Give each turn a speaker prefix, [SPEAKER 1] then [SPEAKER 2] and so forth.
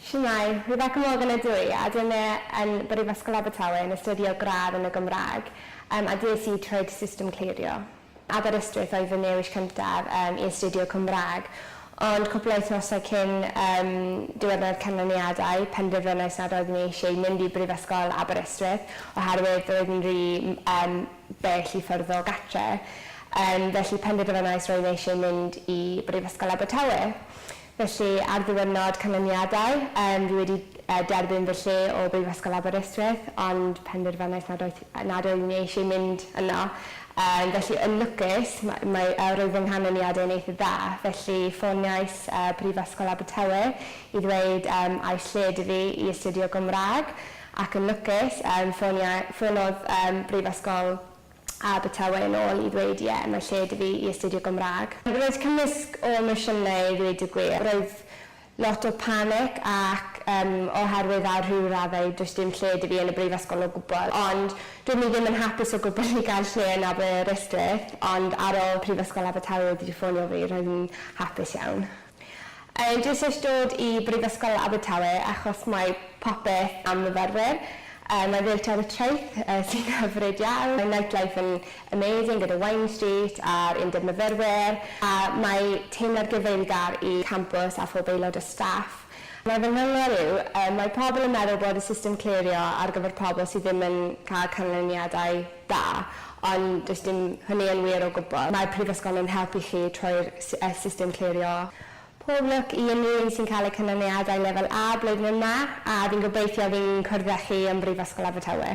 [SPEAKER 1] Shwmae! Rwyf ac ymweld yn y du, a dwi yma yn Brifysgol Abertawe yn astudio gradd yn y Gymraeg, yym, a des i troed system clirio. Aberystwyth oedd fy newis cyntaf, yym, i astudio Cymraeg, ond cwpl o wythnosau cyn, yym, diwrnod canlyniadau, penderfynais nad oeddwn i eisiau mynd i Brifysgol Aberystwyth, oherwydd roedd yn rhy, yym, bell i ffwrdd o gartre', yym, felly penderfynais roedd eisiau mynd i Brifysgol Abertawe. Felly, ar ddiwrnod canlyniadau, yym, fi wedi yy derbyn fy lle o Brifysgol Aberystwyth, ond penderfynais nad oedd nad oedd ni eisiau mynd yno. Yym, felly, yn lwcus, ma- mae yy roedd fy nghanlyniadau yn eitha dda, felly ffoniais yy Prifysgol Abertawe i ddweud yym a oes lle 'da fi i astudio Gymraeg, ac yn lwcus, yym, ffonia- ffonodd yym Brifysgol Abertawe yn ôl i ddweud, 'Ie, mae lle 'da fi i astudio Gymraeg. Roedd cymysg o emosiynau i ddweud y gwir. Roedd lot o panic ac ym oherwydd ar rhyw raddau does dim lle 'da fi yn y brifysgol o gwbl. Ond doeddwn i ddim yn hapus o gwbl i gael lle yn Aberystwyth ond ar ôl Prifysgol Abertawe wedi ffonio fi roedd yn hapus iawn. Yy dwi jyst isie dod i Brifysgol Abertawe achos mae popeth am myfyrwyr. Yy mae Ddeilliant y Traeth yy sy'n hyfryd iawn. Mae Nightlife yn amazing gyda Wine Street a'r Undeb Myfyrwyr a mae teimlad gyfeillgar i campws a phob aelod o staff. Mae fy nghyngor yw yy mae pobl yn meddwl bod y system clerio ar gyfer pobl sydd ddim yn cael canlyniadau da, ond does dim hynny yn wir o gwbl. Mae'r Prifysgol yn helpu chi trwy'r system clirio. Pob lwc i unrhyw un sy'n cael eu canlyniadau Lefel A blwyddyn yma, a fi'n gobeithio fi'n cwrdd â chi ym Mhrifysgol Abertawe.